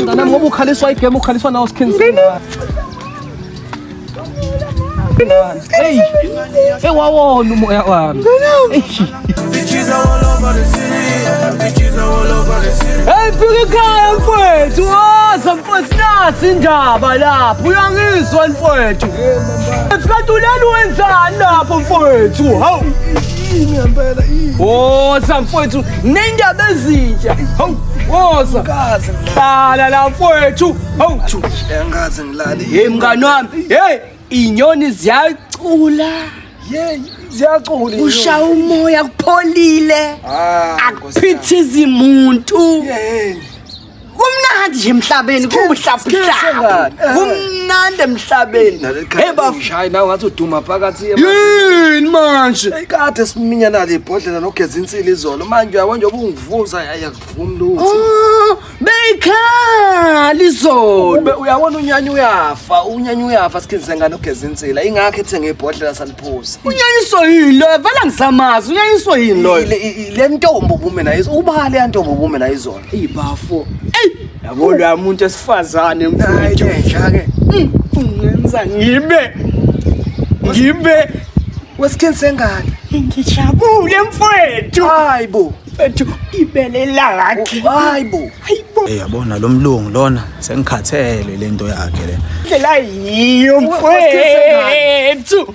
Mntanami ngoba ukhaliswa igame ukhaliswa nawo sikhinisini. Hey, hey wawona umoya wami. Bitches are all over the city. yeah. Bitches are all over the city. Hey, fika ekhaya mfwethu. Waza mfwethu nasi indaba lapho. Uyangizwa mfwethu. Mfwethu lelo wenzani lapho mfwethu? Hawu. yini ngempela yini woza mfowethu nendaba ezintsha hawu woza kaze hlala la mfowethu hawu angaze ngilale hey mngani wami hey inyoni ziyacula yey ziyacula ushaya umoya kupholile ah, akuphithizi muntu yeyeni kumnandi nje emhlabeni kuhlafuhlanga kumnandi emhlabeni hey bafshayi nawe ngathi uduma phakathi yini manje kade siminya nale ibhodlela nogeza insili izolo manje uyabo nje ubungivuza ayakuvumi lutho oh, beyikhali izolo uyabona unyanya uyafa unyanya uyafa sikhizise ngane ugeza insila ingakho ethenge ibhodlela saliphuza unyanyiswa yini loyo vela ngisamazi unyanyiswa yini loyo le ntombi ubume nayo ubale yantombi ubume nayo izolo Ibafo. Ey, yabo la muntu esifazane mfowethu. Njake. Mm, ungenza ngibe ngibe wesikhenzi sengane. Ngijabule mfowethu. Hayibo. Mfowethu ibele lakhe. Hayibo. Hayibo. Eh yabona lo mlungu lona sengikhathele lento yakhe le. Ndlela yiyo mfowethu.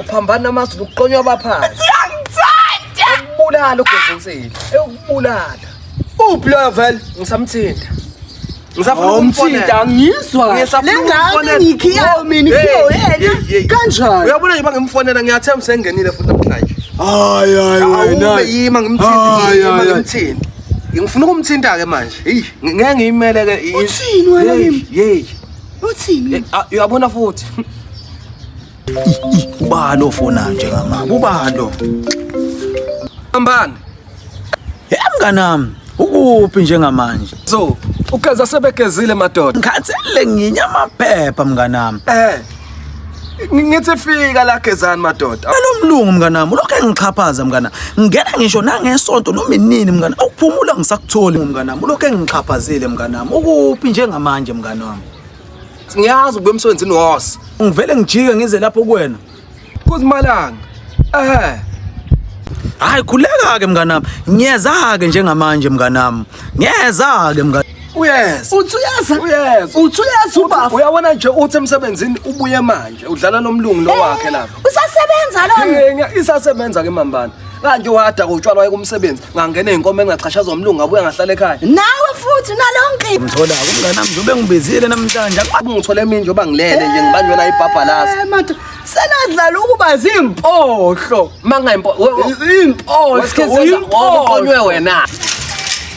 uphambana amazulu kuqonywa abaphansi siyangithanda ukubulala ugezinsile ukubulala uphi loyo vele ngisamthinta ngisafuna angizwa le ngane ngikhiyayo mina ikhiyo yena kanjani uyabona nje bangimfonela ngiyathemba sengenile futhi namhlanje hayi hayi wena yima ngimthinte ngifuna ukumthinta ke manje hey ngeke ngiyimele ke uthini wena yimi hey Uthini? Eh, ah, uyabona futhi. Ubani ofona nje ngamama? Ubani lo? Ambani. Hey mnganami, ukuphi njengamanje? So, ugeza sebegezile madoda. Ngikhathele nginya amaphepha mnganami. Eh. ngithi fika la gezani madoda alomlungu mnganami lokho engixhaphaza mngana ngena ngisho nangesonto noma inini mngana ukuphumula ngisakutholi mnganami lokho engixhaphazile mnganami ukuphi njengamanje mnganami ngiyazi ukuba emsebenzini wose ngivele ngijike ngize lapho kuwena kuzimalanga ehe hayi khuleka-ke mnganami ngiyeza-ke njengamanje mnganami ngiyeza-ke mnganami Uyes. Uthi uyaza? Uyes. Uthi uyaza ubaba. Uyabona nje uthi emsebenzini ubuye manje udlala nomlungu lo wakhe lapha. Eh, usasebenza lona? Isasebenza ke mambana. Kanje wada kotshwala waye kumsebenzi ngangena inkomo engachashaza umlungu ngabuya ngahlala ekhaya. Nawe futhi nalonke. Ngithola ukungana mzobe ngibizile namhlanje. Ngithole mina nje oba ngilele nje ngibanjwe la ibhabhalazi. Eh, Mathe senadlala ukuba zimpohlo. Mangayimpohlo. Impohlo. Uyinkonywe wena.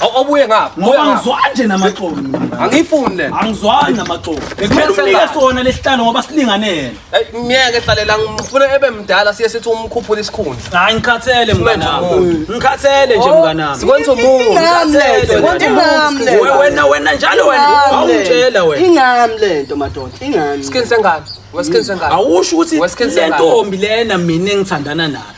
Aw- awubuye ngapha buya ngoba ngapha ngizwani nje namaxolo mina. angiyifuni lena angizwani namaxolo Bekumele kumele unike sengathi. sona lesihlalo ngoba silinganele Ey, myeke hlalela ngifuna ebe mdala siye sithi umkhuphula isikhundla hayi ngikhathele mnganami umuntu. ngikhathele nje mnganami sikwenza umuntu Ngikhathele, Sikwenza wena. umuntu. We- wena wena njalo wena awungitshela wena ingami lento madoda ingami skin sengane weskin sengane awusho ukuthi Wesikhathi le sengane. ntombi lena mina engithandana nayo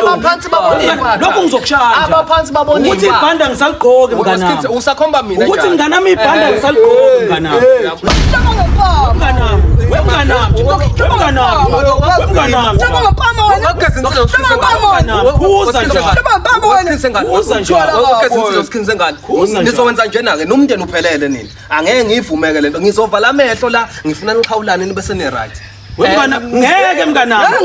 abaphansi babonelokhu ngizokushaya abaphansi babonela ukuthi ibhanda ngisaligqoke mnganami usakhomba mina ukuthi mnganami ibhanda ngisaligqoke mnganami nizowenza njena-ke nomndeni uphelele nini angeke ngiyivumeke le nto ngizovala amehlo la ngifuna nixhawulane nibe seni-right Wemngana eh, ngeke mnganami.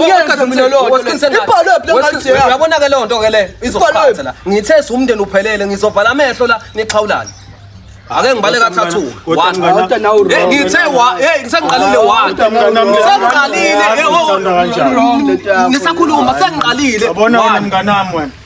Uyabona ke lonto ke le izokuphatha la. Ngithe siwumndeni uphelele ngizobhala amehlo la nixhawulane. Ake ngibale kathathu. Eh, ngithe wa hey ngisangiqalile wa. Ngisangiqalile. Ngisakhuluma sengiqalile. Yabona wena mnganami wena.